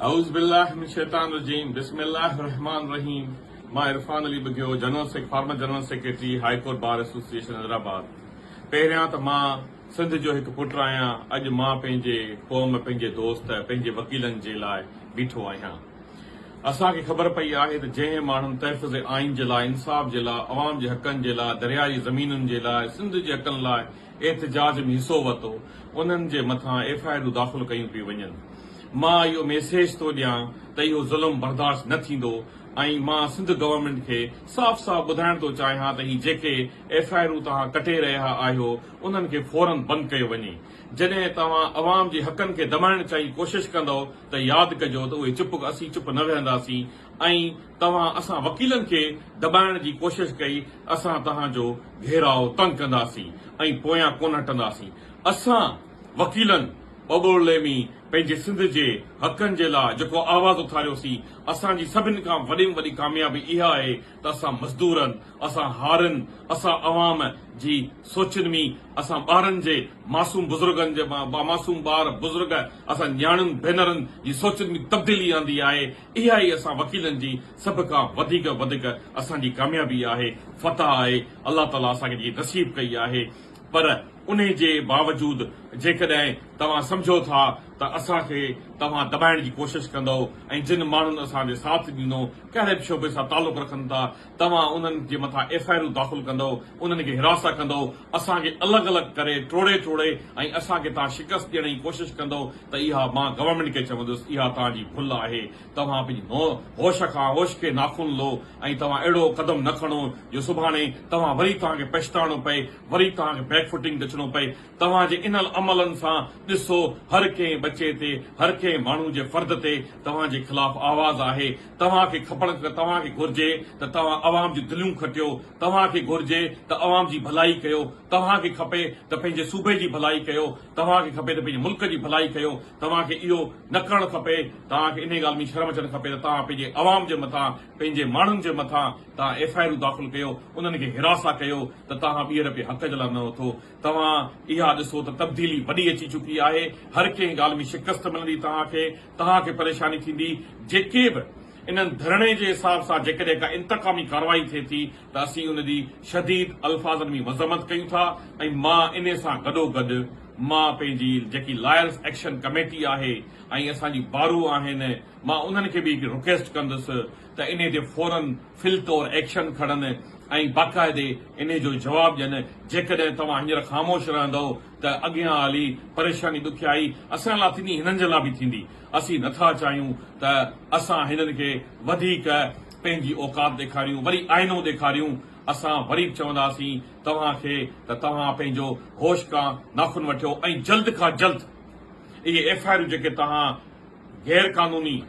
اعوذ بالله من الشيطان الرجيم بسم الله الرحمٰن الرحيم مان Irfan Ali Bughio general sec former general secretary high court bar association Hyderabad پهريان ته مان سنڌ جو هڪ پٽ آهيان اڄ مان پنهنجي قوم پنهنجي دوست پنهنجي وڪيلن جي لاء بيٺو آهيان اسان کي خبر پئي آهي ته جنهن ماڻهن تحفظ آئين جي لاء انصاف جي لاء عوام جي حقن جي لاء درياهي زمينن جي لاء سنڌ جي حقن لاء احتجاج ۾ حصو ورتو انهن جي مٿان ايف آء آرون داخل ڪيون پيون وڃن مان اهو ميسيج ٿو ڏيان ته اهو ظلم برداشت نه ٿيندو ۽ مان سنڌ گورنمينٽ کي صاف صاف ٻڌائڻ ٿو چاهيان ته هي جيڪي ايف آء آرون توهان ڪٽي رهيا آهيو انهن کي فورن بند ڪيو وڃي جڏهن توهان عوام جي حقن کي دٻائڻ چئي ڪوشش ڪندؤ ته ياد ڪجو ته اهي چپ اسين چپ نه ويهنداسين ۽ توهان اسان وڪيلن کي دٻائڻ جي ڪوشش ڪئي، اسان توهان جو گهيراء تنگ ڪنداسين ۽ پويان ڪونه هٽنداسين. اسان وڪيلن ٻٻوڙلي ۾ پنهنجي سنڌ جي حقن جي لاء جيڪو آواز اٿاريوسين، اسان جي سڀن کان وڏي ۾ وڏي ڪاميابي اها آهي ته اسان مزدورن، اسان هارين، اسان عوام جي سوچن ۾ اسان ٻارن جي معصوم بزرگن جي معصوم ٻار، بزرگ، اسان نياڻين، ڀينرن جي سوچن ۾ تبديلي آندي آهي. اها ئي اسان وڪيلن جي سڀ کان وڌيڪ وڌيڪ اسان جي ڪاميابي آهي، فتح آهي، الله تعاليٰ اسان کي جيڪي نصيب ڪئي آهي، پر انهي جي باوجود جيڪڏهن توهان سمجهو ٿا ته اسان کي توهان دٻائڻ جي ڪوشش ڪندؤ ۽ جن ماڻهن اسان جي ساٿ ڏنو ڪهڙي به شعبي سان تعلق رکن ٿا، توهان انهن جي مٿان ايف آء آرون داخل ڪندؤ، انهن کي حراسه ڪندؤ، اسان کي الڳ الڳ ڪري ٽوڙي ٽوڙي ۽ اسان کي توهان شڪست ڏيڻ جي ڪوشش ڪندؤ ته اها مان گورنمينٽ کي چوندس اها توهان جي ڀل آهي، توهان پنهنجي نو هوش کان هوش کي ناخون لو ۽ توهان اهڙو قدم نه کڻو جو سڀاڻي توهان وري توهان کي پڇتاڻو پئي، وري توهان کي بيڪ فوٽنگ تي اچڻو پئي. توهان جي انهن عملن سان ڏسو هر ڪنهن ٻچي تي، هر ڪنهن ماڻهو جي فرد تي توهان جي خلاف آواز آهي. توهان کي کپڻ توهان کي گهرجي ته توهان عوام جون دليون کٽيو، توهان کي گهرجي ته عوام جي ڀلائي ڪيو، توهان کي کپي ته پنهنجي صوبي جي ڀلائي ڪيو، توهان کي کپي ته پنهنجي ملڪ جي ڀلائي ڪيو، توهان کي اهو نه ڪرڻ کپي، توهان کي انهي ڳالهه ۾ شرم اچڻ کپي ته توهان پنهنجي عوام جي مٿان، پنهنجي ماڻهن جي مٿان توهان ايف آء آرون داخل ڪيو، انهن کي حراسا ڪيو ته توهان ٻيهر پي حق جي لاء نه اٿو. توهان اها ڏسو ته تبديلي وڏي اچي چڪي آهي، هر ڪنهن ڳالهه ۾ شڪست ملندي توهان کي، توهان کي پريشاني ٿيندي، جيڪي به انهن ڌرڻي جي حساب سان جيڪڏهن ڪا انتقامي ڪارروائي ٿئي ٿي ته اسين ان جي شديد الفاظن ۾ مذمت ڪيون ٿا ۽ مان انهي سان گڏو گڏ مان پنهنجي جيڪي لائرز ايڪشن ڪميٽي آهي ۽ اسان جي بارون آهن مان انهن کي به هڪڙي رڪويسٽ ڪندس ته انهي تي فورا فعل طور ايڪشن کڻن ۽ باقاعدي انهي جو جواب ڏين، جيڪڏهن توهان هينئر خاموش رهندؤ ته اڳيان هلي پريشاني ڏکيائي اسان لا ٿيندي هنن جي لا به ٿيندي، اسين نه ٿا چاهيون ته اسان هنن کي وڌيڪ پنهنجي اوقات ڏيکاريون وري آئينو ڏيکاريون، اسان وري به چونداسين توهان کي ته توهان پنهنجو هوش ڪا ناخن وٺيو ۽ جلد کان جلد اهي ايف آء آرون جيڪي توهان. غير قانوني،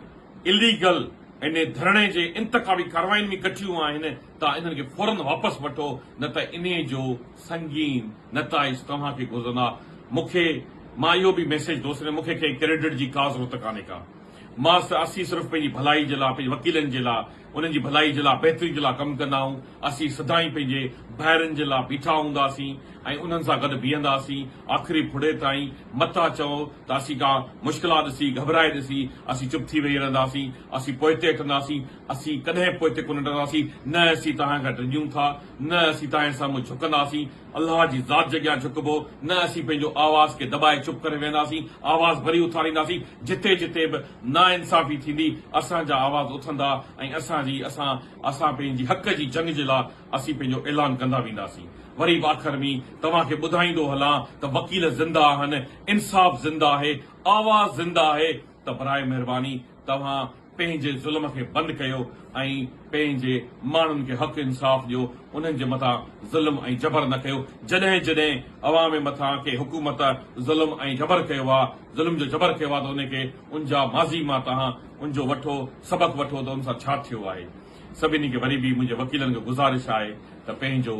Illegal، ان ڌرڻي جي انتخابي ڪاررواين ۾ ڪٺيون آهن ته انهن کي فورن واپس وٺو نه ته انهي جو سنگين نتائج توهان کي گهرندا مون کي مان اهو به ميسيج ٿو سينڊ مون کي ڪنهن ڪريڊٽ جي ڪا ضرورت ڪانهي ڪا مان اسين صرف پنهنجي ڀلائي جي لاء پنهنجي وڪيلن جي لاء انهن جي ڀلائي جي لاء بهتري جي لاء ڪم ڪندا آهيون اسين سدائين پنهنجي ڀائرن جي لاء بيٺا هونداسين ۽ انهن سان گڏ بيهنداسين آخري ڦڙي تائين متا چئو تاسين ڪا مشڪلات ڏسي گهٻرائي ڏسي اسين چپ ٿي ويهي رهنداسين اسين پوئتي هٽنداسين اسين ڪڏهن پوئتي ڪونه هٽنداسين نه اسين توهان کان ڊڄون ٿا نه اسين توهان سامهون جهڪنداسين الله جي ذات جي اڳيان جهڪبو نه اسين پنهنجو آواز کي دٻائي چپ ڪري ويهنداسين آواز وري اٿارينداسين جتي جتي به ناانصافي ٿيندي اسان جا آواز اٿندا ۽ اسان جي اسان اسان پنهنجي حق جي جنگ جي لاء اسين پنهنجو اعلان ڪندا وينداسين. وري به آخر ۾ توهان کي ٻڌائيندو هلان ته وڪيل زنده آهن، انصاف زنده آهي، آواز زنده آهي ته براء مهرباني توهان پنهنجي ظلم کي بند ڪيو ۽ پنهنجي ماڻهن کي حق انصاف ڏيو، انهن جي مٿان ظلم ۽ جبر نه ڪيو، جڏهن جڏهن عوام مٿان ڪنهن حڪومت ظلم ۽ جبر ڪيو آ، ظلم جو جبر ڪيو آ ته ان کي ان جا ماضي مان توهان ان جو وٺو سبق وٺو ته ان سان ڇا ٿيو آهي. سڀني کي وري به منهنجي وڪيلن کي گذارش آهي ته پنهنجو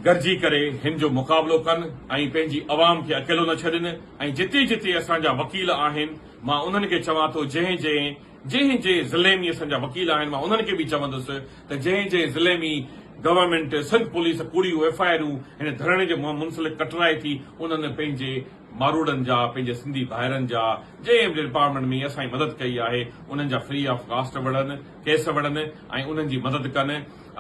گڏجي ڪري هن جو مقابلو ڪن ۽ پنهنجي عوام کي اڪيلو نه ڇڏين ۽ جتي جتي اسان جا وڪيل آهن مان انهن کي چوان ٿو جنهن جنهن جنهن جنهن ضلعي ۾ اسان جا وڪيل آهن مان انهن کي به چوندس ته جنهن جنهن ضلعي ۾ گورنمينٽ سنڌ پوليس ڪوڙيون ايف آء آرون هن ڌرڻي جي منسلڪ ڪٽرائي ٿي انهن پنهنجي ماروئڙن جا پنهنجي سنڌي ڀائرن جا جنهن به ڊپارٽمينٽ ۾ اسان جي مدد ڪئي آهي انهن جا فري آف ڪاسٽ وڙهن ڪيس وڙهن ۽ انهن جي مدد ڪن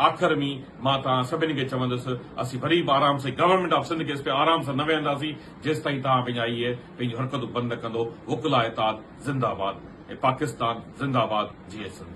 آخر ۾ مان توهان سڀني کي چوندس اسين وري به آرام سان گورنمينٽ آف سنڌ ڪيس ۾ آرام سان نه ويهنداسين جيستائين توهان پنهنجا اهي پنهنجون حرڪتون بند نه ڪندو وڪلا اتحاد زنده آباد ۽ پاڪستان زنده آباد جيئي سنڌ.